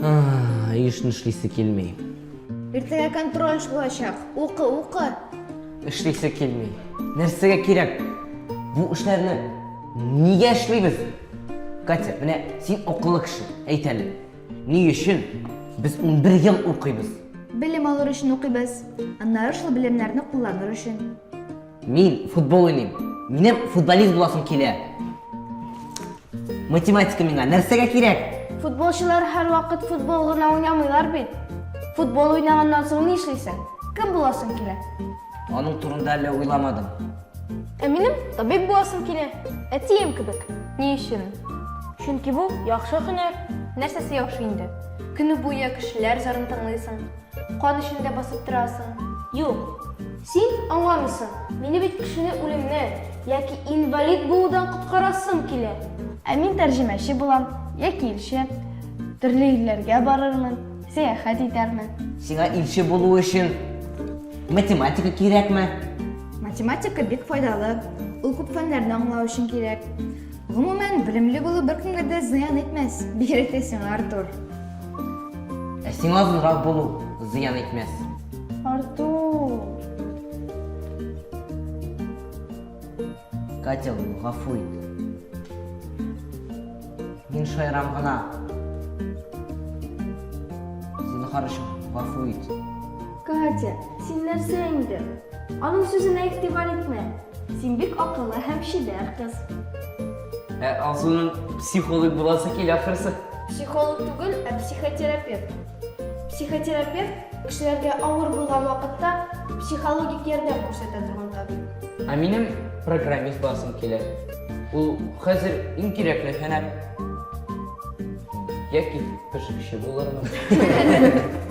Ай, ешны эшлисе килми. Иртәгә контроль булачак. Укы, укы. Эшлисе килми. Нәрсәгә кирәк? Бу эшләрне нигә эшлибез? Катя, менә син акыллы кеше. Әйт әле. Ни өчен без 11 ел укыйбыз? Белем алыр өчен укыйбыз. Аннары шул белемнәрне кулланыр өчен. Мин футбол уйныйм. Минем футболист буласым килә. Математика миңа нәрсәгә кирәк? Футболчылар һәрвакыт футбол гына уйнамыйлар бит. Футбол уйнаганнан соң ни эшлисең? Кем буласың килә? Аның турында әле уйламадым. Ә минем табиб буласым килә. Әтием кебек. Ни өчен? Чөнки бу яхшы һөнәр. Нәрсәсе яхшы инде? Көне буе кешеләр зарын тыңлыйсың, кан эчендә басып торасың. Юк, син аңламыйсың. Мине бит кешене үлемнән яки инвалид булудан коткарасым килә. Ә мин тәрҗемәче булам яки илче. Төрле илләргә барырмын. Сәяхәт итәрмен. Сиңа илче булу өчен математика кирәкме? Математика бик файдалы. Ул күп фәннәрне аңлау өчен кирәк. Гомумән, белемле булу беркемгә дә зыян итмәс, бигрәк тә сиңа, Артур. Ә сиңа озынрак булу зыян итмәс. Артур! Катя, гафу ит. Мин шаярам гына. Зинхар өчен гафу ит. Катя, син нәрсә инде? Аның сүзенә игътибар итмә. Син бик акыллы һәм чибәр кыз. Ә Алсуның психолог буласы килә ахрысы. Психолог түгел, ә психотерапевт. Психотерапевт, кешеләргә авыр булган вакытта психологик ярдәм күрсәтә торган табиб. Ә минем программист буласым килә. Ул хәзер иң кирәкле һөнәр. Яки пешекче булырмын.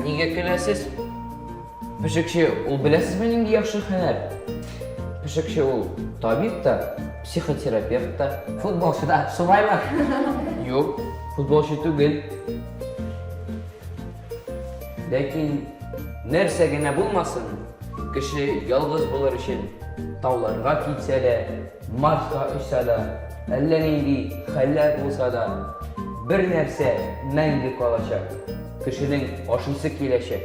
Нигә көләсез? Пешекче ул беләсезме нинди яхшы хәнәр? Пешекче ул табиб та, психотерапевт та. Футболчы да, шулаймы? Юк, футболчы түгел. Ләкин нәрсә генә булмасын, кеше ялгыз булыр өчен тауларга китсә дә, Марска очса да, әллә нинди хәлләр булса да, бер нәрсә мәңге калачак. Кешенең ашыйсы киләчәк.